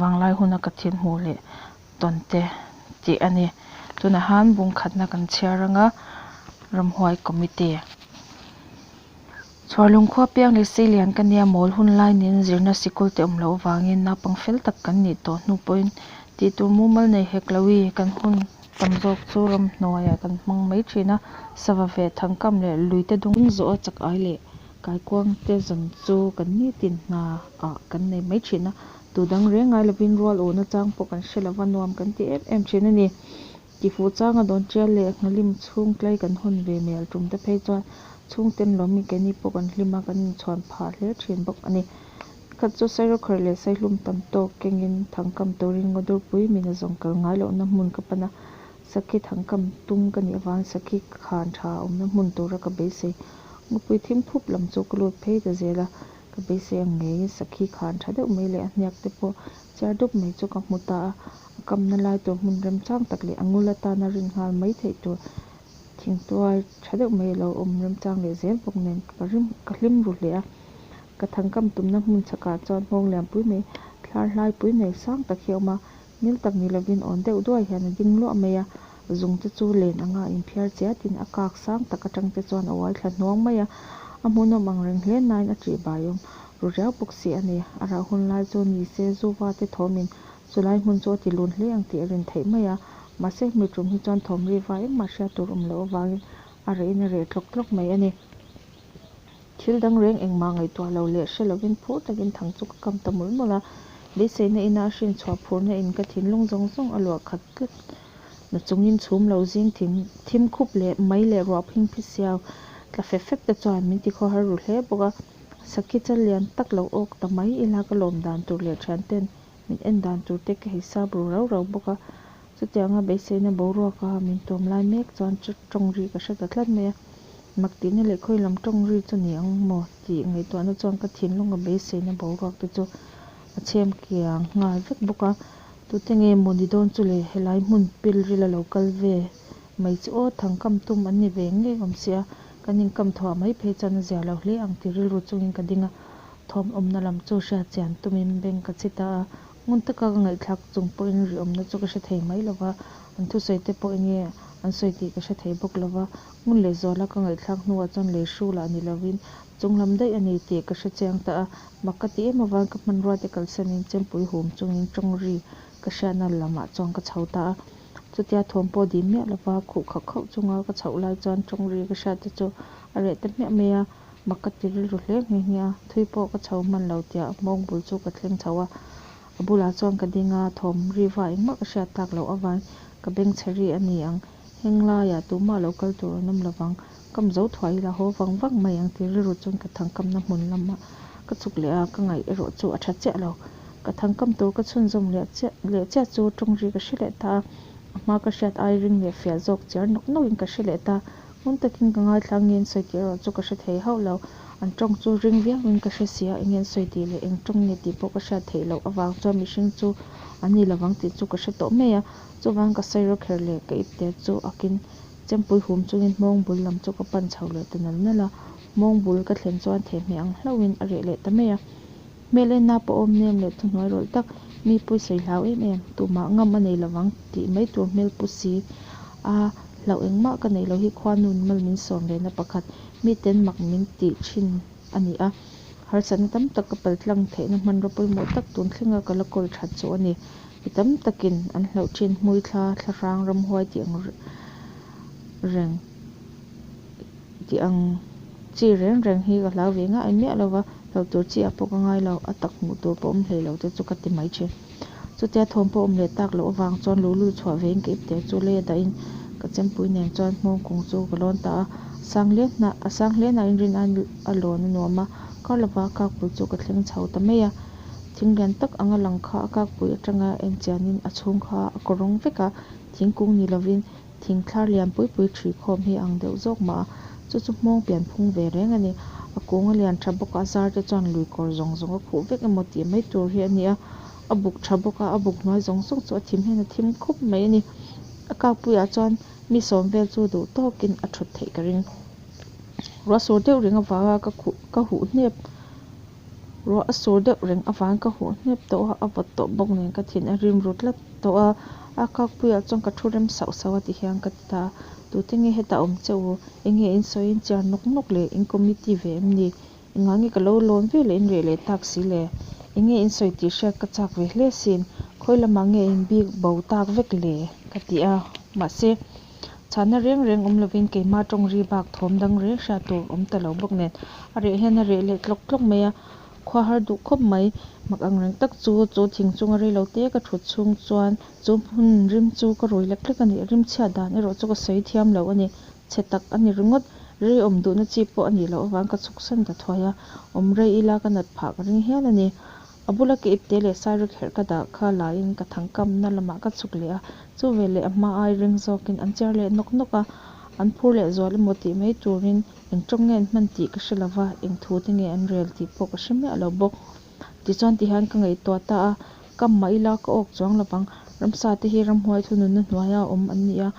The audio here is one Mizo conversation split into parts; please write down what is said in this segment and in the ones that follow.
Vanglai huna ka thil hmuh leh tawn te tih a ni. Tunah han bungkhatna kan chhiar anga ramhuai committee Chhuarlung khua piang leh sei lian ka nia mawl hun lai niin zirna sikul te awm loh avangin naupang fel tak kan nih tawh hnu pawhin tih tur mumal nei hek lo i kan hun tam zawk chu ramhnuaiah kan hmang mai thin a sava ve thangkam leh luite dawng zawh a chak ai leh Kaikuangte zan chu kan nitin hna ah kan nei mai thin a, tu dang reng ngai lovin rual ûn achang pawh kan hre lo va nuam kan ti em em thin a ni. Tifuhchang a dawn tial leh Nghalim chhungklai kan hawn ve mel tum te phei chuan chhungten lawmi keni pawh kan hlim a, kan inchhuan phah hle thin bawk a ni. Khat chu Sairokhar leh Saihlum tam tawk kengin thangkam turin Ngawdurpui mina zawng kal ngai lohna hmun ka pan a, Sakhi thang kam tum ka nih avang Sakhi ka khan tha a awmna hmun tura ka beisei Ngawpui thim phup lam chu ka lut phei ta zel a, ka beisei ang ngeiin Sakhi khan tha deuh mai leh a hniak te pawh chiar dup mai chu ka hmu ta a, a kamna lai tur hmun remchang tak leh a ngul atana rin nghal mai theih tur thingtuai tha deuh mai a lo awm remchang leh zel bawk nen ka rim ka hlim ru hle a, ka thangkam tumna hmun chhakah chuan nghawng lianpui nei thlar hlai pui nei sang tak hi a awm a, Nil tak ni lovin awn deuh duai hian a ding luah mai a, zungte chu len anga in phiar che atin a kak sang tak atangte chuan a uai thla hnuang mai a, a hmuhnawm ang reng hle nain a tih baiawm ru riau bawk si a ni. A rah hun lai chu ni se zuva te thawmin chulai hmun chu a ti lun hle ang tih a rin theih mai a, mahse mi ṭum hi chuan thawmriva engmah hria tur awm loh avangin a reh in a reh tlawk tlawk mai a ni. Thil dang reng engmah ngaihtuah lo leh hre lovin phur takin thang chu ka kam ta mul mul a. Beiseina ina a hrin chhuah phurna in ka thinlung zawng zawng a luah khat tlat. Na chungin chhum lo zing thim thim khup leh mai leh ruah phing phi siau tla fep fep te chuan min ti khuahar ru hle bawk a. Sakhi chal lian tak lo awk ta mai ila ka lawmdan tur leh thianten min en dan tur te ka hei sap ru rau rau bawk a, chuti anga beiseina boruak a min tuam lai mek chuan tawng ri ka hre ta tlat mai a, mak tihna leh khawi lam tawng ri chu ni ang maw tih ngaihtuah na chuan ka thinlunga beiseina boruak te chu a chhem kiang nghal vek bawk a, tute nge maw ni dawn chu le, helai hmun pil ril a lo kal ve mai chu aw thang kam tum an ni ve ngei awm sia, kan inkam thuah mai phei chuan a ziah loh hle ang tih rilru chungin ka ding a, Thawm awmna lam chu hria chian tumin beng ka chhi ta a, ngun taka ka ngaihthlak chung pawhin ri awmna chu ka hre thei mai lo va, an thusawi te pawh enge an sawi tih ka hre thei bawk lo va, ngun leh zuala ka ngaihthlak hnuah chuan lei hru lah ni lovin chunglam daih a ni tih ka hre chiang ta a, mak ka ti em avang ka hmanrua te kalsanin chempui hum chungin tawng ri ka hriatna lamah chuan ka chho ta a, chutia thawm pawh dih miah lova khuh khauh khauh chunga ka chhoh lai chuan tawng ri ka hriat te chu a reh ta hmiah mai a, Mak ka ti rilru hle nghe nghe a, thui pawh ka chho hman lo tia mawng bul chu ka thleng chho a. A bulah chuan ka ding a, thawm riva eng mah ka hriat tak loh avai ka beng chhe ri a ni ang. Heng laiah tumah lo kal tur an awm lo vang, kam zo thuah ila haw vang vang mai ang ti rilru chuan ka thangkamna hmun lamah ka chhuk leh a, ka ngaih erawh chu a tha chiah lo. Ka thangkam tur ka chhunzawm leh chiah leh chiah chu tawngri ka hre leh ta a, a hma ka hriat ai ring leh fiah zawk chiar nawk nawk in ka hre leh ta Hmun takin ka ngaithla ngensawi tih erawh chu ka hre thei hauh lo. An tawng chu ring viauin ka hre si a, i ngensawi tih leh eng tawng nge tih pawh ka hriat theih loh avang chuan mihring chu an ni lovang tih chu ka hre tawh mai a. Chuvang ka sawi ro kher leh ka ipter chu akin chempui hum chungin hmawng bul lam chu ka pan chho leh ta nal nal a. Hmawng bul ka thlen chuan thehmeh ang hlauhin a reh leh ta mai a. Hmel enna pawh awm nem leh thuhnuai rawlh tak, mi pui sawi hlau em em, tumah ngam a nei lovang tih mai tur hmel pu si a, hlauh engmah ka neih lo hi khua nun mal min sawm ve na pakhat, miten mak min tih thin a ni a, harsatna tam tak ka pal tlang theih na hmanraw pawimawh tak tun thleng a ka la kawl that chu a ni, mi tam takin an hlauh thin hmui thla, thlahrang ramhuai tih ang reng. Tih ang. Chi reng reng hi ka hlau ve ngai miah lo va, hlauh tur chi ah pawh ka ngai lo, a tak hmuh tur pawh awm hlei lo te chu ka ti mai thin. Chutia thawm pawh awm leh tak loh avang chuan lu lu chhuah ve in ka ip tel chu lei a dahin ka chempui nen chuan hmawng kung chu ka lawn ta a, sang hle hna, a sang hle hna in rin aiin a lawn a nuam a, kar lo va kakpui chu ka thleng chho ta mai a, thing lian tak anga lang kha a kakpui atanga en chian in a chhung kha a kaw rawng vek a, thingkung ni lo in. Thingthlar lian pui pui ṭhi khawm hi ang deuh zawk mah a, chu chu hmawng pian phung ve reng a ni. A kung a lian ṭha bawk a, a zar te chuan lui kawr zawng zawng a khuh vek emaw tih mai tur hi a ni a. A buk ṭha bawk a, a buk hnuai zawng zawng chu a thim hian a thim khup mai a ni. A kakpuiah chuan mi sawm vel chu duh tawkin a ṭhut theih ka ring. Ruah sur deuh ring avanga ka khuh ka huh hnep. Ruah a sur deuh reng avang ka huh hnep tawh a, a vawt tawh bawk nen ka thin a rim ru tlat tawh a, a kâkpuiah chuan ka thu rem sauh sauh a ti hian ka ti ta a, tute nge hetah awm che u, enge in sawi in chiar nawk nawk le, in committee ve em ni, engah nge ka lo lawn ve leh in reh leh tak si le, enge in sawi tih hriat ka chak ve hle sin, khawi lamah nge in bik bo tak vek le ka ti a, mahse. Chahna reng reng awm lovin keimah tawng ri bak thawm dang reng hriat tur awm ta lo bawk nen, a reh hian a reh leh tlawk tlawk mai a, khua har duh khawp mai. Mak ang reng tak chu chu thing chunga rei lo te ka thut chhung chuan chu hmun rim chu ka rui lek lek a ni, rim chhiat dan erawh chu ka sawi thiam lo a ni. Chhe tak a ni ringawt, reiawm duhna chi pawh a nih loh avang ka chhuk san ta thuai a, awm rei ila ka nat phah ka ring hial a ni. A bula ka ipte leh sairek herh ka dah kha laiin ka thangkamna lamah ka chhuk leh a. Chu vel leh a hma ai reng zawkin an cher leh nawk nawk a, an phur leh zual emaw tih mai turin eng tawng nge an hman tih ka hre lo va, eng thu te nge an rel tih pawh ka hre miah lo bawk. Tichuan tihian ka ngaihtuah ta a, ka mah ila ka awk chuang lovang. Ramsa te hi ramhuai thu nunna hnuaia awm an ni a.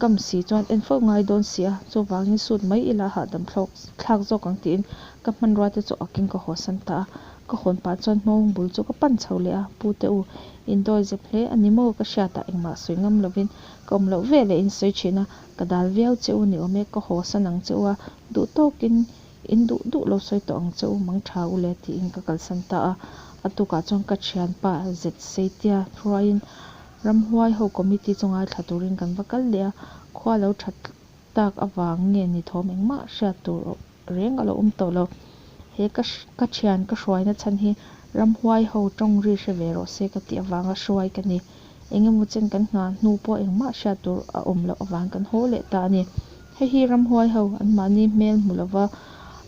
Kam si chuan en fo ngai dawn si a, chuvangin suit mai ila hahdam thlawk thlak zawk ang tiin ka hmanrua te chu akin ka haw san ta a, ka hawn pah chuan hmawng bul chu ka pan chho leh a, Pu te u, indawi zep hle a ni maw ka hriat a engmah sawi ngam lovin ka awm loh veleh a insawi thin a, ka dal viau che u ni awm e ka haw san ang che u a, duh tawkin in duh duh lo sawi tawh ang che u mang tha u le tiin ka kalsan ta a, a tukah chuan ka thianpa Zetseitia hruaiin Ramhuai ho committee chunga thla turin kan va kal leh a, khua lo tha tak avang nge ni thawm engmah hriat tur reng a lo awm tawh lo. He ka ka thian ka hruaina chhan hi ramhuai ho tawng ri hre ve rawh se ka tih avanga hruai ka ni. Eng emaw chen kan nghah hnu pawh engmah hriat tur a awm loh avang kan haw leh ta a ni. Hei hi ramhuai ho anmahni hmel hmu lova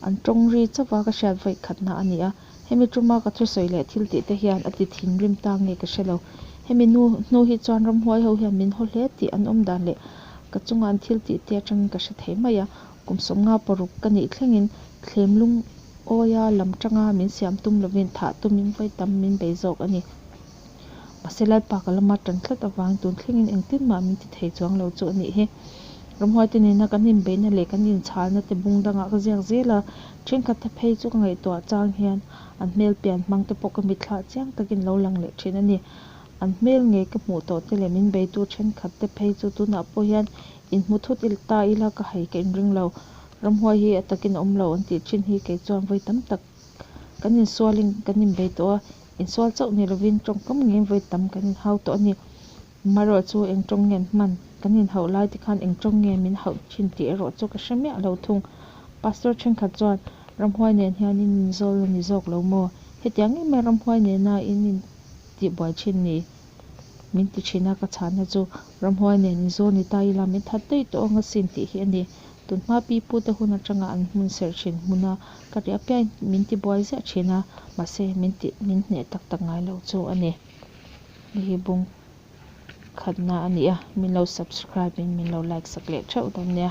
an tawng ri chauh a ka hriat vawi khatna a ni a. Hemi tuma ka thusawi leh thil tih te hian a ti thin rim ta nge ka hre lo. Hemi nu hnu hi chuan ram huai ho hian min haw hle tih an awm dan leh ka chunga an thil tih te atangin ka hre thei mai a. Kum sawm nga paruk ka nih thlengin thlem lung awi a lam tanga min siam tum lovin thah tumin vawitam min bei zawk a ni. Mahse Lai Paka lama tan tlat avang tun thlengin engtin mah min ti thei chuang lo chu a nih hi. Ramhuaite nena kan inbeihna leh kan inchhalna te bung dangah ka ziak zel a, thenkhat te phei chu ka ngaihtuah chang hian an hmel pian hmang te pawh ka mitthlah chiang takin lo lang leh thin a ni. An hmel ngei ka hmuh tawh te leh min beitu thenkhat te phei chu tunah pawh hian inhmu thut ila ta ila ka hai ka inring lo. Ramhuai hi a takin a awm lo an tih thin hi kei chuan vawi tam tak Kan insualin kan inbei tawh a, insual chauh ni lovin tawngkam nge vawi tam kan inhau tawh a ni? Marawh chu eng tawng nge an hman? Kan inhauh lai te khan eng tawng nge min hauh thin tih erawh chu ka hre miah lo thung. Pastor thenkhat chuan, Ramhuai nen hian in inzawl la ni zawk lo maw? Hetiang em e Ramhuai nena in intihbuai thin ni? min ti thin a, ka chhahna chu ramhuai nen i zawn i ta i la min that daih tawh ang a sin tih hi a ni. Tunhma pi pu te hun atanga an hmun serh thin hmun a ka ri apiain min ti buai ziah thin a, mahse min ti min hneh tak tak ngai lo chu a ni. Ni hi bung khatna a ni a, min lo subscribe in min lo like sak leh theuh dawn nia.